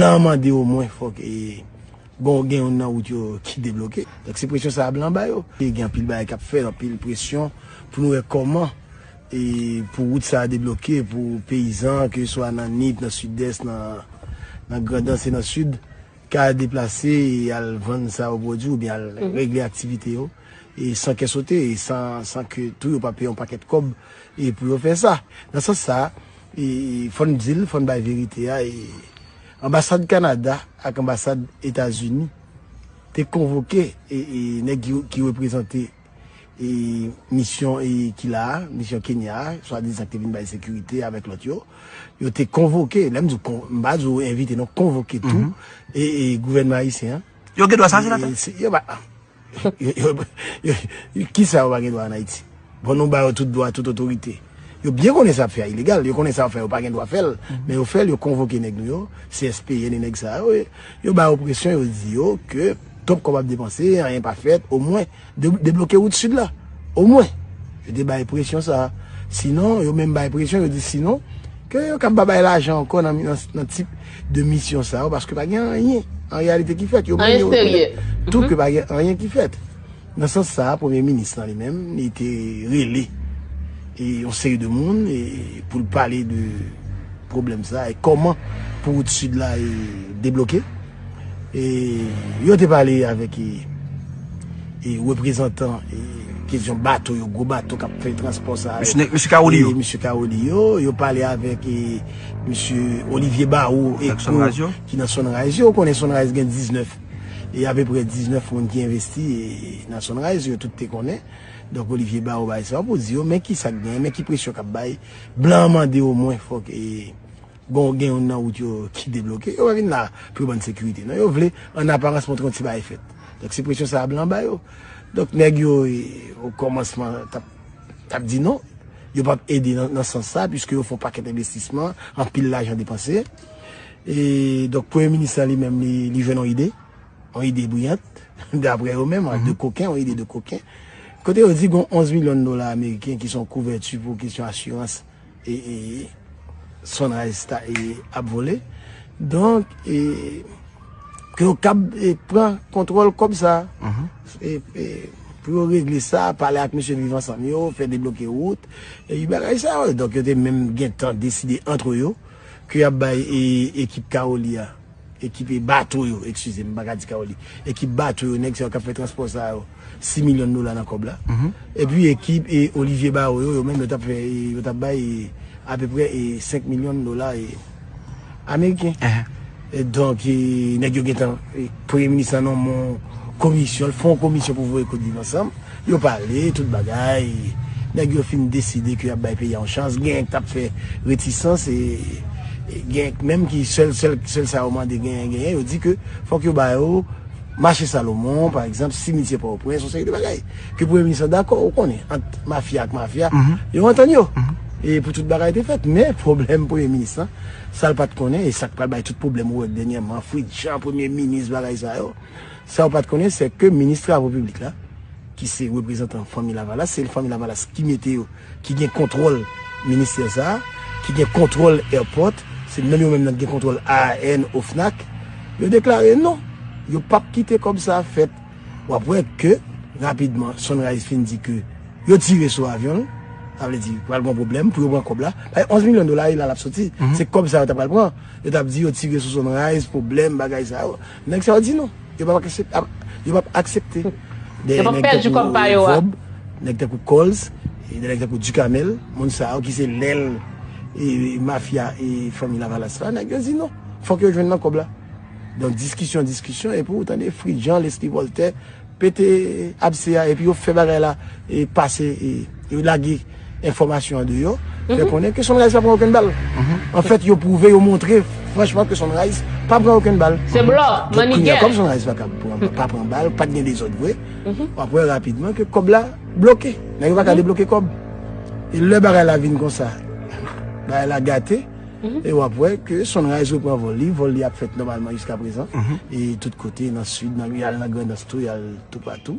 Blan mande o mwen fok e bon gen yon nan wout yo ki debloke. Donk se presyon sa a blan ba yo. E gen anpil bagay kap fèt, anpil presyon pou nou wè koman e pou wout sa a debloke pou peyizan ke swa nan Nip, nan Sidès, nan Grandans e nan Sid ka deplase e al vann sa yo pwodwi oubyen al regle aktivite yo. e san kè sote e san ke tou yo pa peye yon pakèt kòb e pou yo fè sa. Nan sans sa a, e fò n di l, fò n bay verite a e anbasad Kanada ak anbasad Etazini te konvoke e nèg yo ki reprezante e misyon e ki la a, misyon Kenya a, swadizan ki te vin bay sekirite avèk lòt yo, yo te konvoke, lè m di w kon, m pa di w envite non, konvoke tou e gouvènman ayisyen an. Yo gen dwa sa, senatè? Yo ba. Kisa yo pa gen dwa an Ayiti? Bon nou ba yo tout dwa, tout otorite. Yo byen konnen sa yap fè a ilegal, yo konnen sa yap fè a yo pa gen dwa fèl, men yo fèl, yo konvoke nèg nou yo, CSPN e nèg sa yo, yo ba yo presyon, yo di yo ke twòp kòb ap depanse, anyen pa fèt, omwen debloke wout Sid la, omwen. Yo te bay presyon sa. Sinon, yo menm bay presyon, yo di sinon, ke yo kab pa bay lajan ankò nan tip. de misyon sa yo paske pa gen anyen an reyalite ki fèt. Yo menm yo rekonèt tou ke pa gen anyen ki fèt. Nan sans sa a, Premye Minis lan li menm li te rele yon seri de moun pou l pale de pwoblèm sa e kòman pou wout sid la debloke. Yo te pale avèk reprezantan kesyon bato yo, gwo bato k ap fè transpò sa yo. Mesye Kawoli yo. Yo pale avèk. Misye Olivier Barreau e ko ki nan Sunrise yo, ou konnen Sunrise gen 19, e apeprè 19 moun ki envesti nan Sunrise yo, tout te konnen. Donk Olivier Barreau bay sa pou di yo, men ki sa k gen, men ki presyon k ap bay. Blan an mande o mwen fòk e bon gen youn nan wout yo ki debloke. Yo pa vin la pou yo ban n sekirite non, yo vle an aparans montre yon ti bagay fèt. Donk se presyon sa a blan an ba yo. Donk nèg yo o kòmansman t ap. t ap di non, yo p ap ede nan sans sa, piske yo fè yon pakèt envestisman, anpil lajan depanse. E donk premye minis lan li menm li jwenn yon ide, yon ide briyant, daprè yo menm, de koken, yon ide de koken, kote yo di gen 11 milyon dola ameriken ki se yon kouvèti pou kesyon asirans. ee sunrise ta ee ap vole donk ee ke yo kab ee pran kontwòl kòb sa ee ee pou yo regle sa pale ak mesye viv ansanm yo fè debloke wout ee bagay sa yo donk yo te menm gentan deside antre yo ke yap bay ee ekip kaoli a. Ekipe bato yo, ekskize m pa ka di Kawo li. Ekip bato yo, nèg sa yo k ap fè transpò sa yo, 6 milyon dola nan kòb la. Epi ekip Olivier Barro yo, yo menm yo t ap fè, yo t ap bay apeprè 5 milyon dola ameriken. Donk nèg yo gentan, premye minis lan nonmen yon komisyon, l fè yon komisyon pou voye kout Viv Ansanm. Yo pale tout bagay, nèg yo fin deside ke yap bay peyi a yon chans, genyen ki tap fè retisans e genyen ki menm ki sèl sèl sèl sa yo mande genyen genyen yo di ke fòk yo ba yo mache Salomon pa egzanp, simitye Pòtoprens, yon seri de bagay ke premye minis lan dakò, ou konnen ant mafya ak mafya yo antann yo e pou tout bagay te fèt, men pwoblèm premye minis lan sal pat konnen e sak pral bay tout pwoblèm ou wè denyèman, fritjan premye minis bagay sa yo. Sa ou pat konnen sè ke minis travo piblik la ki se reprezantan fanmi lavalas se fanmi lavalas ki mete yo ki gen kontwòl ministè sa ki gen kontwòl èpòt se menm yo menm nan ki gen kontwòl AAN ofnak yo deklare non yo pap kite kòb sa fèt wap wè ke rapidman sunrise fin di ke yo tire sou avyon l sa vle di pral gon pwoblèm pou yo pran kòb la paske 11 milyon dola e la lap soti se kòb sa yo ta pral pran yo tap di yo tire sou sunrise pwoblèm bagay sa yo. Nèg sa yo di non, yo pap aksepte, yo pap aksepte de nèg tankou Vob, nèg tankou Coles, e de nèg tankou Ducamel, moun sa yo ki se lèl e mafya e fanmi Lavalas la, nèg yo di non, fòk yo jwenn nan kòb la. Donk diskisyon, diskisyon, epi ou tande Fritjean, Lesly Voltaire, Pete abse a epi yo fè bagay la pase yo lage enfòmasyon an deyò fè konnen ke Sunrise pa pran okenn bal anfèt yo pwouve yo montre franchman ke Sunrise pa pran okenn bal se blòf mannigè kòm Sunrise pa kab pa pran bal pat gen dezòd vre wap wè rapidman ke kòb la bloke nèg yo pa ka debloke kòb e lè bagay la vin konsa bagay la gate. E wap wè ke Sunrise repran vòl li, vòl li ap fèt nòmalman jiska prezan, e tout kote nan sid, nan yal nan grandans tou, yal toupatou.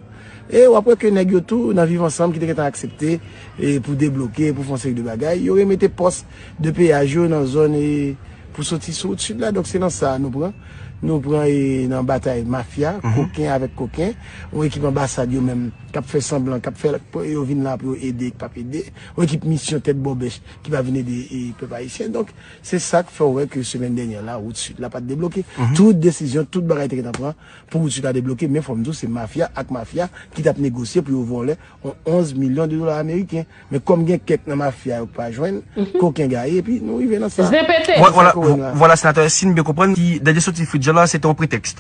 E wap wè ke nèg yo tou nan viv ansanm ki te gentan aksepte e pou debloke, pou fon seri de bagay, yo remete pòs de peyaj yo nan zòn e pou soti sou wout sid la. Donk se nan sa nou pran, nou pran e nan batay mafya, koken avèk koken, yon ekip anbasad yo menm kap fè sanblan, kap fè yo vin la pou yo ede, k pap ede, yon ekip misyon tèt bòbèch. ki pa vin ede pèp ayisyen donk se sak fèw wè ke semèn dènyè la wout sud la pat debloke tout desizyon tout bagay te gentan pran pou wout sud la debloke men fòm diw se mafya ak mafya ki tap negosye pou yo vòlè yon 11 milyon de dola ameriken men kòm gen kèk nan mafya yo ki pa jwenn koken gaye epi nou rive nan sa vwala senatè si m byen konprann dènye soti fritz jean la se te yon pretèks.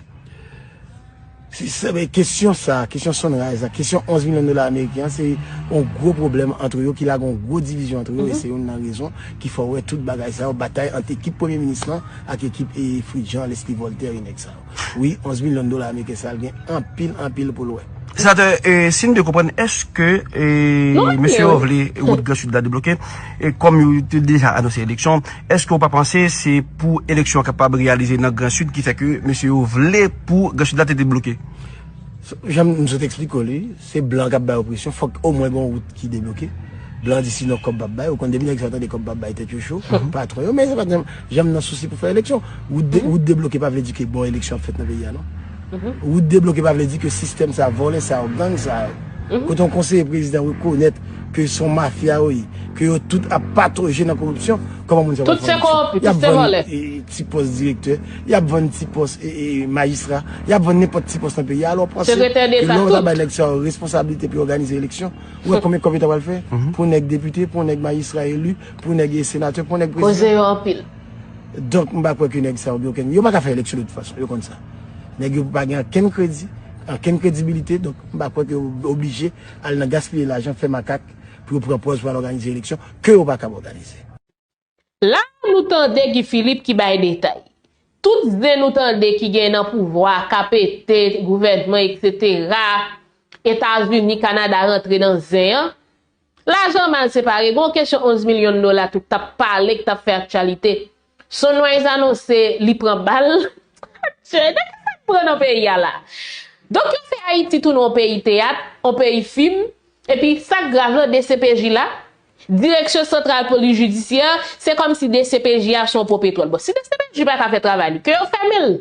Si se vre, kesyon sa a, kesyon Sunrise la, kesyon 11 milyon dola ameriken an, se yon gwo pwoblèm antre yo ki lage yon gwo divizyon antre yo e se youn nan rezon ki fè w wè tout bagay sa yo, batay ant ekip Premye Minis lan ak ekip Fritz Jean, Leslie Voltaire e nèg sa yo. Wi, 11 milyon dola ameriken sa a gen anpil, anpil pou l wè. Senatè, si m byen konprann, èske mesye yo vle wout Gran Sid la debloke? Kòm yo te deja anonse eleksyon. Eske ou pa panse se pou eleksyon kapab reyalize nan gran sid ki fè ke mesye yo vle pou gran sid la te debloke? Janm m sot eksplike w li, se blan kap bay yo presyon, fòk omwen gon wout ki debloke, blan an di sinon kòb pap bay, ou konn depi nèg sa yo tande kòb pap bay tèt yo cho, patwon yo, men se pat janm nan sousi pou fè eleksyon, wout debloke pa vle di ke bon eleksyon ap fèt nan peyi a non. Wout debloke pa vle di ke sistèm sa, vòlè sa yo, gang sa yo, kote yon konseye prezidan rekonèt ke son mafya yo ye, ke yo tout ap patoje nan koripsyon, kòman moun sa pral fè eleksyon? Yap vann ti pòs direktè, yap vann ti pòs majistra, yap vann nenpòt ti pòs nan peyi a, alò panse ke lè ou ta bay nèg sa yo responsablite pou yo òganize eleksyon, ou wè konbyen kòb yo ta pral fè pou yon nèg depite, pou yon nèg majistra eli, pou yon nèg senatè, pou yon nèg prezidan? Donk m pa kwè ke nèg sa yo gen okenn, yo pa ka fè eleksyon de tout fason, yo konn sa. Nèg yo pa gen ankenn kredi, ankenn kredibilite, donk m pa kwè ke yo oblije al nan gaspiye lajan, fè makak pou yo pran pòz pou al òganize eleksyon ke yo pa kab òganize. La a nou tande Guy Philippe ki bay detay. Tout zen nou tande ki gen nan pouvwa, KPT, gouvènman eksetera, Etazini, Kanada rantre nan zen an, Lajan mal separe, gon kesyon 11 milyon dola tout tap pale k tap fè aktyalite. Sunrise anonse li pran bal. Adye, nan ki sak pran nan peyi a la? Donk yo fè Ayiti tounen on peyi teyat, on peyi fim, epi sak grav lan dcpj la, Direksyon Santral Polis Jidisyè, se kòm si dcpj a son on po petwòl. Bon si dcpj pa ka fè travay li, ke yo fèmen l.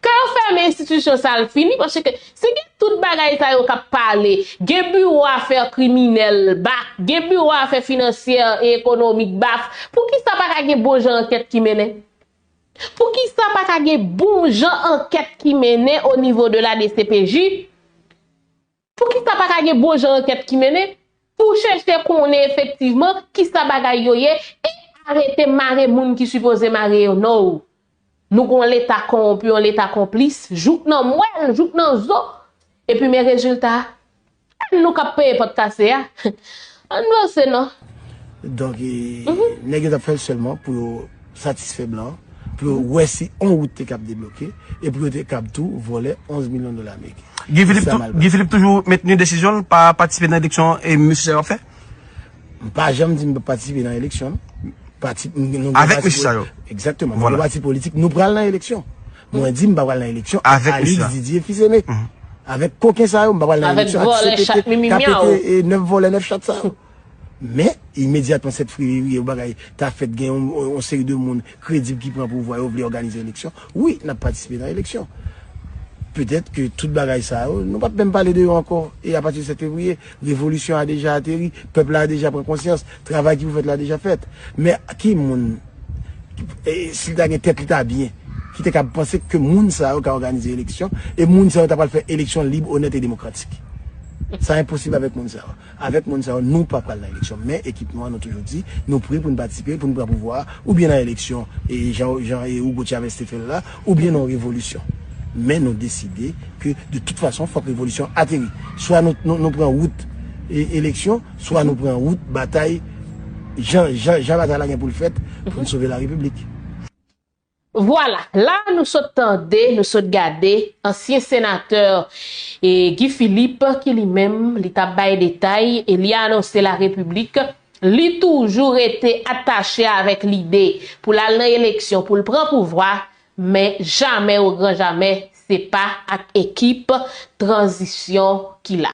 Kan yo fèmen enstitisyon sa al fini paske si gen tout bagay sa yo kap pale gen biwo afè kriminèl bak gen biwo afè finansyè e ekonomik bak poukisa pa ka gen bon jan ankèt ki mennen poukisa pa ka gen bon jan ankèt ki mennen o nivo de la dcpj Poukisa pa ka gen bon jan ankèt ki mennen pou chèche konnen efektivman kisa bagay yo ye e arete mare moun ki sipoze mare yo now nou gon leta konwonpi yon leta konplis jouk nan mwèl jouk nan zo epi men rezilta a nou kap peye pòt kase a Ann vanse non. Donk nèg yo t ap fè l sèlman pou yo satisfè blan, pou yo wè si on wout te kab debloke e pou yo te kab tou vòlè 11 milyon dola ameriken. Guy Philippe toujou mentni desizyon l pa patisipe nan eleksyon mesye sa yo ap fè? M pa janm di m p ap patisipe nan eleksyon non. Avèk mesye sa yo? Egzakteman. Nou gen pati politik nou pral nan eleksyon. Mwen di m pa pral nan eleksyon ak Alix Didier fils aimé. Avèk koken sa yo m pa pral nan eleksyon ak CPT k ap pete 9 vòlè 9 chat sa yo. Men, imedyatman 7 fevriye yon bagay ta fèt gen yon seri de moun kredib ki pran pouvwa yo vle òganize eleksyon, wi n ap patisipe nan eleksyon. Petèt ke tout bagay sa yo nou p ap menm pale de yo ankò e apati de 7 fevriye revolisyon a deja ateri, pèp la deja pran konsyans, travay ki pou fèt la deja fèt. Men ki moun. si li ta gen tèt li ta byen, ki te kab panse ke moun sa yo ka òganize eleksyon, e moun sa yo ta pral fè eleksyon lib, onèt e demokratik. Sa enposib avèk moun sa yo. Avèk moun sa yo, nou pa pral nan eleksyon. Men ekip nou an, nou toujou di, nou pre pou nou patisipe, pou nou pran pouvwa a, oubyen nan eleksyon, jan Hugo Chavez te fè l la, oubyen nan yon revolisyon. Men nou deside ke de tout fason, fòk revolisyon an ateri. Swa nou pran wout eleksyon. Swa nou pran wout batay jan batay la gen pou l fèt pou n sove larepiblik. Vwala, la a nou sot tande, nou sot gade, ansyen senatè Guy Philippe ki li menm li t ap bay detay e li anonse larepiblik li toujou rete atache avèk lide pou l al nan eleksyon pou l pran pouvwa men jamè ogranjamè se pa ak ekip tranzisyon ki la.